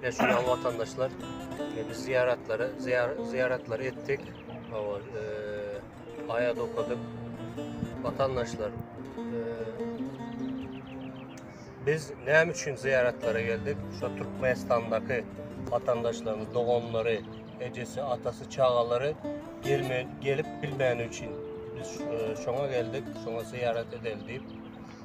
Ine şu ýaly watandaşlar e, biz zyýaratlary zyýaratlary etdik. Awal e, aýat okadyk. Watandaşlar e, biz näme üçin zyýaratlara geldik? Şu Türkmenistandaky watandaşlarymyz, doganlary, ejesi, atasy, çagalary gelme gelip bilmäni üçin biz e, şoňa geldik, şoňa zyýarat edeli diýip.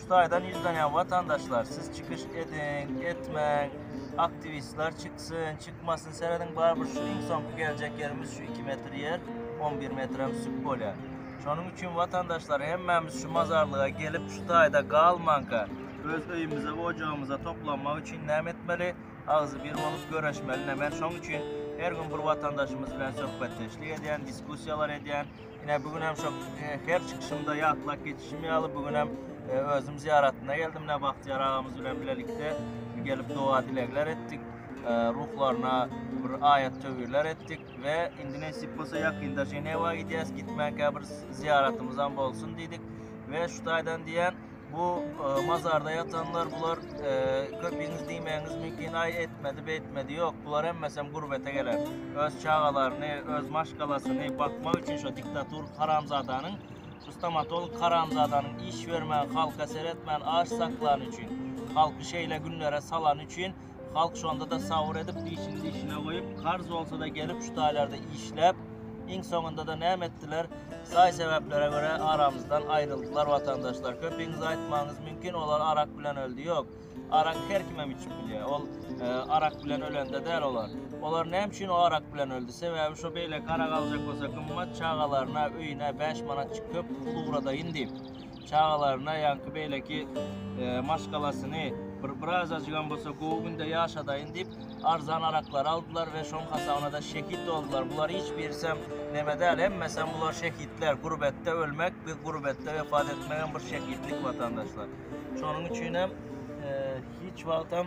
Şu taýdan ýüzlenýän watandaşlar siz çykyş ediň, etmäň, aktiwistler çyksyn, çykmasyn serediň barybir şu iň soňky geljek ýerimiz şu iki metr ýer, on bir metrem süp bolýar. Şonuň üçin watandaşlar hemmämiz şu mazarlyga gelip şu taýda galmanka öz öýümize we ojagymyza toplanmak üçin näme etmeli? Agzybir bolup göreşmeli. Men şoň üçin her gün bir watandaşymyz bilen söhbetdeşlik edýän, diskussiýalar edýän. Ine bu gün hem şu e, her çykyşymda ýatlap geçişim ýaly bu gün hem e, özüm zyýaratyna geldim. Ne Bagtyýar agamyz bilen bilelikde gelip doga dilegler etdik. E, ruhlaryna bir aýat töwirler etdik we indi nesip bolsa ýakynda Ženewa gidýäs. Gitmänkä bir zyýaratymyz hem bolsun diýdik. Ve şu taýdan diýen Bu mazarda ýatanlar bular köpüňiz diýmäňiz mümkin aý etmedi beýtmedi ýok bular hemmesem gurbete gelen öz çagalaryny öz maşgalasyny bakmak üçin şu diktator haramzadanyň şu stomatolog haramzadanyň iş bermän halka seretmän aç saklany üçin halky şeýle günlere salany üçin Halk şonda-da sabyr edip, dişini dişine goýup, karz bolsa-da gelip, şu taýlarda işläp, iň soňunda-da näme etdiler? Saý-sebäplere görä aramyzdan aýryldylar, watandaşlar. Köpiňiz aýtmagyňyz mümkin, olar arak bilen öldi. Ýok. Arak her kimem içip bilýär. Ol arak bilen ölende däl olar. Olar näme üçin o arak bilen öldi? Sebäbi şo beýleki arak aljak bolsa gymmat, çagalaryna, öýüne bäş manatjyk köp pul ugradaýyn diýip. çagalaryna ýaňky beýleki e, maşgalasyny bir birazajygam bolsa gowy günde ýaşadaýyn diýip arzan araklary aldylar we şoň hasabyna-da şehit boldular. Bular hiç birisem neme däl, hemmesem bular şehitler. Gurbetde ölmek, biz gurbetde wefat etmegem bir şehitlik watandaşlar. Şonuň üçinem e, hiç wagtam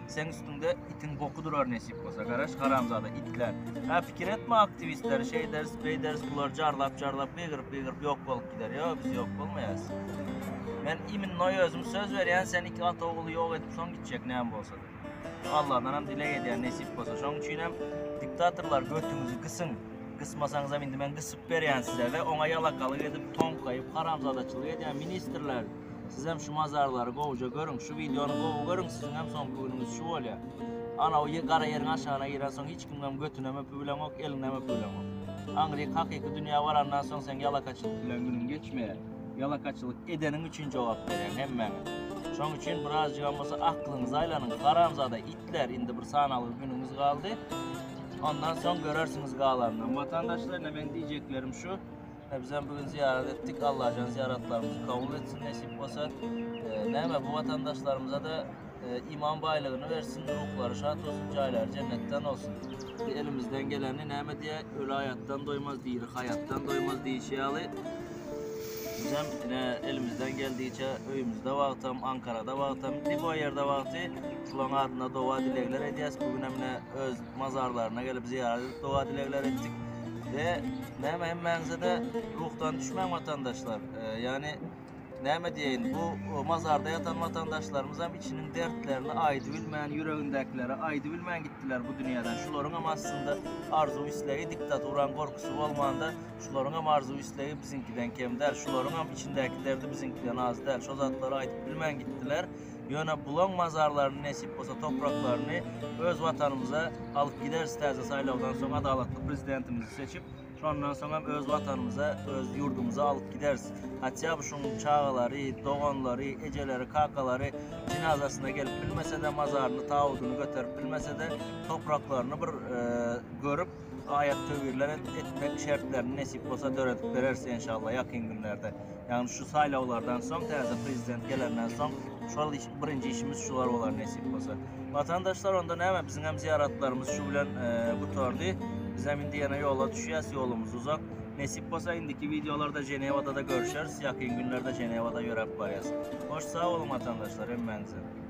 Seň üstüňde itiň boku durar nesip bolsa. Garaş haramzada itler. Ha pikir etme aktivistler şeyders beyders bular carlap carlap gygyrıp gygyrıp yok bolup gider. Yo biz yok bolmayas. Men imin noy özüm söz verýän sen iki at oguly yok edip son gitjek näm bolsa. Allah'dan hem dileg edýän nesip bolsa. Şoň üçin hem diktatorlar götüňizi gysyn. Gysmasaňyzam indi men gysyp berýän size we oňa ýalakalyk edip, toňkaýyp, haramzadaçylyk edýän ministrler. Sizem şu mazarlary gowja görüň, şu wideony gowy görüň, siziňem soňky günüňiz şu bolýar. Anaw gara ýeriň aşagyna girensoň hiç kimem götünem öpübileňok, eliňem öpübileňok. Aňryk hakyky dünýä barandan soň seň ýalakaçylyk bilen günüň geçmeýär. Ýalakaçylyk edeniň üçin jogap berýäň hemmäňiz. Şoň üçin birazjygam bolsa aklyňyzy aýlanyň, haramzada itler indi bir sanalgy günüňiz galdy. Ondan soň görersiňiz galanyny. Watandaşlar ine meň diýjeklerim şu. Bizem bu gün zyýarat etdik. Allajan zyýaratlarymyzy kabul etsin, nesip bolsa, näme bu watandaşlarymyza-da iman baýlygyny bersin, ruhlary şat bolsun, jaýlary jennetden bolsun. Elimizden geleni näme diýýär, Öli aýatdan doýmaz, diri haýatdan doýmaz diýşi ýaly, bizem ine elimizden geldigiçe öýümizde wagtam, Ankarada wagtam, lýuboý ýerde wagty şolaryň adyna doga-dilegler edýäs. Bu günem ine öz Mazarlaryna gelip zyýarat edip doga-dilegler etdik we näme hemmäňize-de ruhdan düşmäň watandaşlar. Ýagny näme diýeýin, bu mazarda ýatan watandaşlarymyzam içiniň dertlerini aýdy bilmän, ýüregindäkileri aýdy bilmän gitdiler bu dünýäden. Şularyňam aslynda arzuw-islegi diktaturaň gorkusy bolmanda, şularyňam arzuw-islegi biziňkiden kem däl, şularyňam içindäki derdi biziňkiden az däl. Şo zatlary aýdyp bilmän gitdiler. Ýöne bulaň mazarlaryny nesip bolsa topraklaryny öz watanymyza alyp gideris täze saýlawdan soň adalatly prezidentimizi seçip şondan soň hem öz watanymyza öz ýurdumyza alyp gideris hatýa bu şuň çagalary doganlary ejeleri kakalary jynazasyna gelip bilmesede mazaryny tabudyny göterip bilmesede topraklaryny bir görüp Aýat töwirler etmek şertlerini nesip bolsa döredip bereris enşalla ýakyn günlerde. Ýagny şu saýlawlardan soň täze prezident gelenden soň şol iş birinji işimiz şular bolar nesip bolsa. Watandaşlar onda näme biziňem zyýaratlarymyz şu bilen gutardy. Bizem indi ýene ýola düşýäs ýolumyz uzak. Nesip bolsa indiki wideolarda Ženewada-da görüşeris ýakyn günlerde Ženewada ýöräp barýas. Hoş sag boluň watandaşlar hemmäňizem.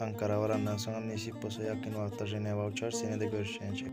Ankara barandan soňam nesip bolsa ýakyn wagtlar Ženewa uçarys ýene-de görüşýänçäk.